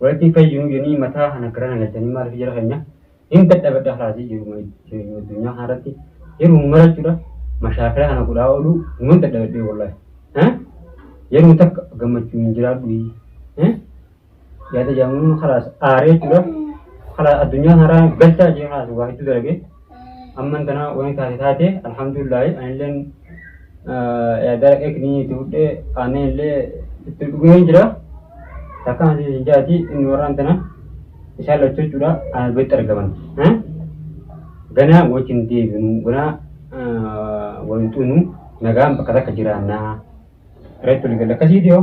Walitii fayunuu jonii mataa kana gara nagalchanii maalif jara kenyaa hin dadhabadha kalaasii jiruma jireenyuma addunyaa kanarratti yeruma marachudha mashaakila kana godhaa oluu numan dadhabadhee wallahi eh yeruma takka gammachuun hin jiraadhuyi eh yaada jaamuun kalaas aaree jechudha kalaas addunyaa kanarraa galchaa jee kalaas waa hedduu dalagee Amman tana wani taate taate alhamdulillahi anilleen yaadara eekni itti fudhee aannan illee itti dhugee hin jira. Takka hansi isin jaati inni warraan tana isaan lachuu jechuudha ana biratti argaman. Ganaa wajjin deebinu ganaa wal hin xuunu nagaan bakka takka jiraannaa. Reetti wal galla akkasii dhiyoo.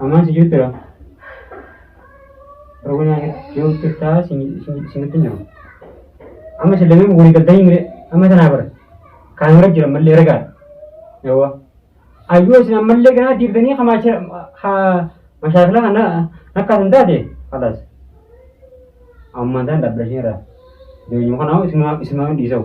Amaan si jirtira. Rogo nyaate yoo jirtaa si nutti jiru. Amma si lameen walii galtanii mire amma tanaa bara. Kaan hora jira mallee ragaa. Yawwa. Ayyoo isin ammallee ganaa diibdanii hamaasha ha mashaakila kana nakkaas hin taate halas. Ammaan tan dhabbashee irraa. Deebiin kanaa isin waan dhiisau.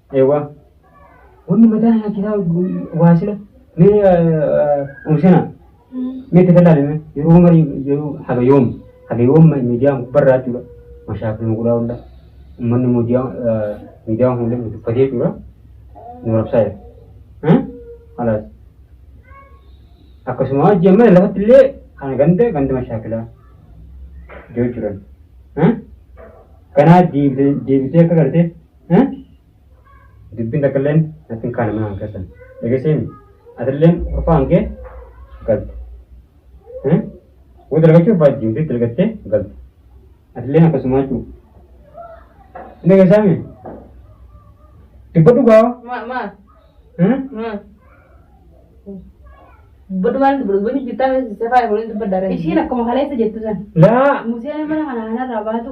Eewwa. Wanni mataa isaa kisaa waa sila mee umsina mee itti tallaalame yeroo marii yeroo haga yoom haga yoom miidiyaa gubbarraa jechuudha mashaakil muqulaa hunda ummanni miidiyaa miidiyaa hunda dubbatee jechuudha nu rabsaa jira. Alaas. Akkasuma hojii amma lafatti illee kana ganda ganda mashaakilaa jechuudha. Kanaa deebitee akka gartee Dubbiin takkalleen natti hin kaane mana kan keessan. Dhageessee mi? Atilleen kurfaa hangee galte. Woo dalagachuu barbaaddi hundee dalagattee galte. Atilleen akkasumaa jechuu. Hin dhageessaa mi? Dubbadhu gaa. Ma ma ma. Dubbadhu maal dubbadhu dubbadhu jirtaa safaa eeguun dubbadda ree. Ishiin akkuma kaleessa jettu san. Laa. Museen mana kana kanarraa baatu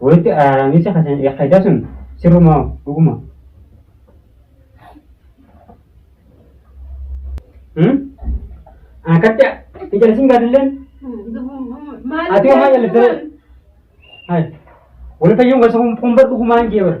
Walitti araaramiinsa kasan yakkaiddaa sun sirrumaa dhuguma. Akkatti hin jallisin gaadilleen ati homaa jallitee wal fayyuun gosa kun bar dhugumaan jee bara.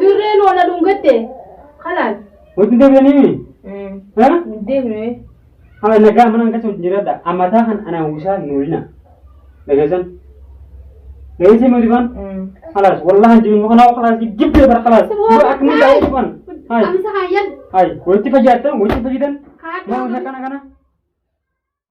Dirreen waan aduun gatte kanaan. Wajjin deebi'anii ha? Deemnee. Haa nagaa mana hanqatu wajjin jiradha. Amataa kan anaan wisaa hin oolina. Dhageessan. Dhageessee mootii baan? Kalaas wallahan jibi muka naa kalaas jibbee bara kalaas. Yoo akkuma ta'e dhufan. Hai. Amsa hayyan. Hai. Walitti fayyadatan walitti fayyadan. Haa Nama kana kana.